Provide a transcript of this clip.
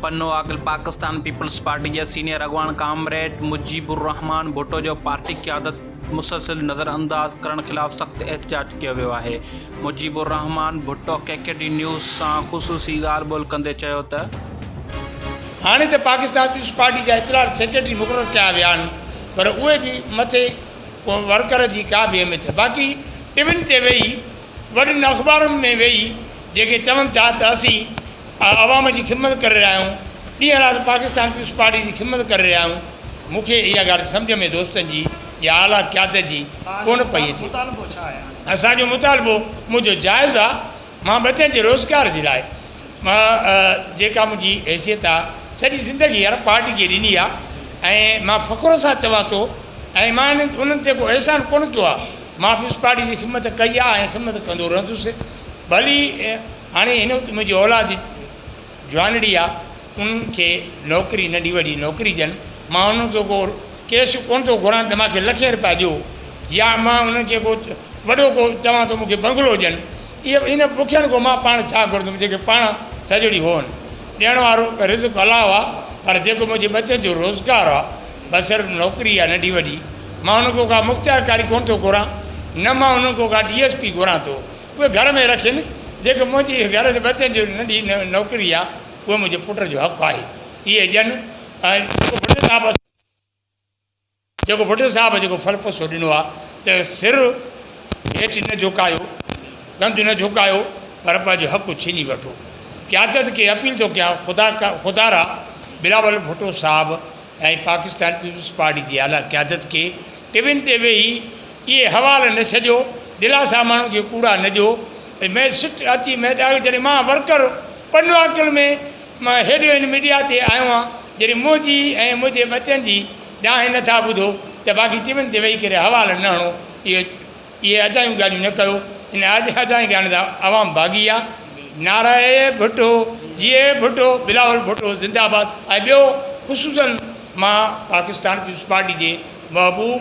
پنو اڳ، پاڪستان پيپلز پارٽي جي سينيئر اڳواڻ ڪامريڊ مجيب الرحمان ڀٽو جو پارٽي قيادت مسلسل نظرانداز ڪرڻ خلاف سخت احتجاج ڪيو ويو آهي. Mujib Ur Rahman Bhutto K K D news سان خصوصي ڳالهه ٻولهه ڪندي چيو ته. هاڻي ته پاڪستان پيپلز پارٽي جا اطلاعات سيڪريٽري مقرر ڪيا ويا آهن پر اهي به مٿي ڪنهن ورڪر جي ڪا به اهميت نه باقي ٽوين تي ويهي وڏين اخبارن ۾ ويهي جيڪي چون ٿا ته اسين عوام جي خدمت ڪري رهيا آهيون ڏينهن رات پاڪستان پيپلز پارٽي جي خدمت ڪري رهيا آهيون مون کي اها ڳالهه سمجهه ۾ دوستن جي يا اعليٰ قيادت جي ڪونه پئي اچي اسان جو مطالبو منهنجو جائز آهي مان ٻچن جي روزگار جي لاء جيڪا منهنجي حيثيت آ سڄي زندگي هن پارٽي کي ڏني آ ۽ مان فخر سان چوان ٿو ۽ مان هنن انهن تي ڪو احسان ڪونه ڪيو آ مان پيپلز پارٽي جي خدمت ڪئي آ ۽ خدمت ڪندو رهندس ڀلي هاڻي هن وقت منهنجي اولاد جوانڙي آ انهن کي نوڪري ننڍي وڏي نوڪري ڏين مان انهن کي ڪو ڪيس ڪونه ٿو گهران ته مانکي لکين روپيا ڏيو يا مان انهن کي ڪو وڏو ڪو چوان ٿو مونکي بنگلو ڏين ائين ائين نه بکين کان مان پاڻ ڇا گهرندم جيڪي پاڻ سڄو ڏينهن هون ڏيڻ وارو رزق الله آ پر جيڪو منهنجي ٻچن جو روزگار آ بصر نوڪري آ ننڍي وڏي مان انهن کان ڪا مختيارڪاري ڪونه ٿو گهران نه مان انهن کان ڪا ڊي ايس پي گهران ٿو اهي گهر ۾ رکين، جيڪي منهنجي هي گهر جي ٻچن جي ننڍي نوڪري آهي، اهي منهنجي پٽ جو حق آهي، اهي ڏين ۽ جيڪو ڀٽي صاحب اسان جيڪو ڀٽي صاحب جيڪو ڦلپسو ڏنو آهي ته سر هيٺ نه جهڪايو، ڪنڌ نه جهڪايو پر پنهنجو حق ڇيني وٺو. قيادت کي اپيل ٿو ڪيان خدا خدارا بلاول ڀٽو صاحب ۽ پاڪستان پيپلز پارٽي جي اعليٰ قيادت کي ٽي وين تي ويهي اهي حوال نه ڇڏيو، دلاسا ماڻهن کي ڪوڙا نه ڏيو. مئي سٽ اچي مئي ڏاهي جڏهن مان ورڪر پنواڪل ۾ مان هيڏو هن ميڊيا تي آيو آهيان جڏهن منهنجي ۽ منهنجي ٻچن جي ڏاهي نه ٿا ٻڌو ته باقي ٽي وين تي ويهي ڪري حوال نه هڻو اهي اهي اجايون ڳالهيون نه ڪيو ان اجاين ڳالهين سان عوام ڀاڳي آهي نعري ڀٽو جيئي ڀٽو بلاول ڀٽو زنداباد ۽ ٻيو خصوصن مان پاڪستان پيپلز پارٽي جي محبوب